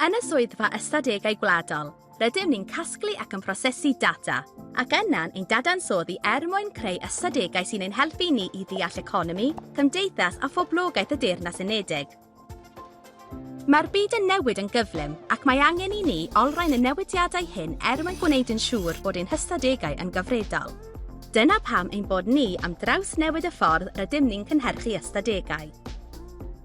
Yn y Swyddfa Ystadegau Gwladol, rydym ni'n casglu ac yn prosesu data, ac yna'n ein dadansoddi er mwyn creu ystadegau sy'n ein helpu ni i ddeall economi, cymdeithas a phoblogaeth y Deyrnas Unedig. Mae'r byd yn newid yn gyflym, ac mae angen i ni olrhain y newidiadau hyn er mwyn gwneud yn siŵr bod ein hystadegau yn gyfredol. Dyna pam ein bod ni am drawsnewid y ffordd rydym ni'n cynhyrchu ystadegau.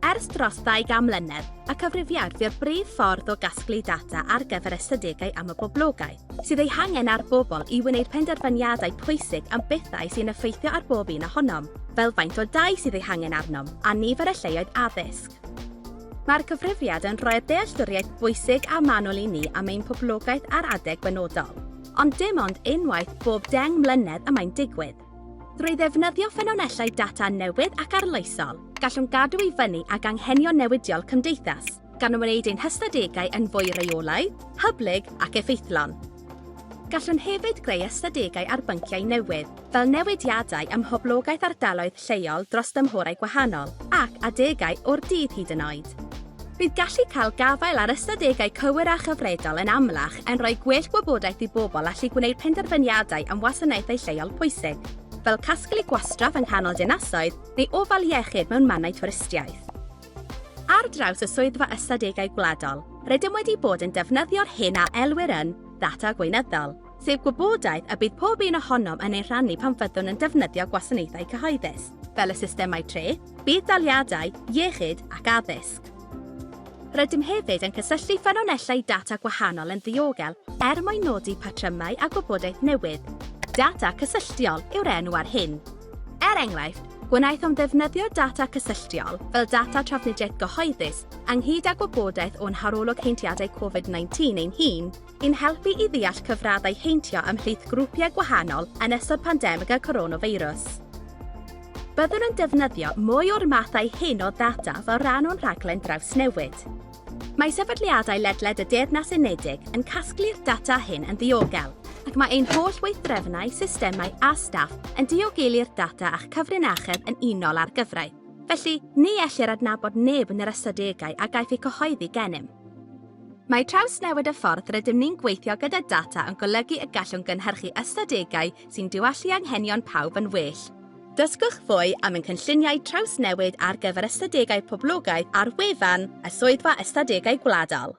Ers dros ddau gan mlynedd, y cyfrifiad fu'r brif ffordd o gasglu data ar gyfer ystadegau am y boblogaeth sydd eu hangen a'r bobl i wneud penderfyniadau pwysig am bethau sy'n effeithio ar bob un ohonom, fel faint o dai sydd eu hangen arnom a nifer y lleoedd addysg. Mae'r cyfrifiad yn rhoi'r dealltwriaeth bwysig a manwl i ni am ein poblogaeth ar adeg benodol, ond dim ond unwaith bob deng mlynedd y mae'n digwydd. Drwy ddefnyddio ffynonellau data newydd ac arloesol, gallwn gadw i fyny ag anghenion newidiol cymdeithas, gan wneud ein hystadegau yn fwy rheolaidd, hyblyg ac effeithlon. Gallwn hefyd greu ystadegau ar bynciau newydd, fel newidiadau ym mhoblogaeth ardaloedd lleol dros dymhorau gwahanol, ac adegau o'r dydd hyd yn oed. Bydd gallu cael gafael ar ystadegau cywir a chyfredol yn amlach yn rhoi gwell gwybodaeth i bobl allu gwneud penderfyniadau am wasanaethau lleol pwysig, fel casglu gwastraff yng nghanol dinasoedd neu ofal iechyd mewn mannau twristiaeth. Ar draws y Swyddfa Ystadegau Gwladol, rydym wedi bod yn defnyddio'r hyn a elwir yn ddata gweinyddol, sef gwybodaeth y bydd pob un ohonom yn ei rhannu pan fyddwn yn defnyddio gwasanaethau cyhoeddus, fel y systemau treth, Bydd daliadau iechyd ac addysg. Rydym hefyd yn cysylltu ffynonellau data gwahanol yn ddiogel er mwyn nodi patrymau a gwybodaeth newydd. Data cysylltiol yw'r enw ar hyn. Er enghraifft, gwnaethom ddefnyddio data cysylltiol fel data trafnidiaeth gyhoeddus ynghyd â gwybodaeth o'n harolwg heintiadau Covid 19 ein hun, I'n helpu i ddeall cyfraddau heintio ymhlith grwpiau gwahanol yn ystod pandemig y coronafeirws. Byddwn yn defnyddio mwy o'r mathau hyn o ddata fel rhan o'n rhaglen drawsnewid. Mae sefydliadau ledled y Deyrnas Unedig yn casglu'r data hyn yn ddiogel, ac mae ein holl weithdrefnau, systemau a staff yn diogelu'r data a'ch cyfrinachedd yn unol â'r gyfraith. Felly, ni ellir adnabod neb yn yr ystadegau a gaiff eu cyhoeddi gennym. Mae trawsnewid y ffordd rydym ni'n gweithio gyda data yn golygu y gallwn gynhyrchu ystadegau sy'n diwallu anghenion pawb yn well. Dysgwch fwy am ein cynlluniau trawsnewid ar gyfer ystadegau poblogaidd ar wefan y Swyddfa Ystadegau Gwladol.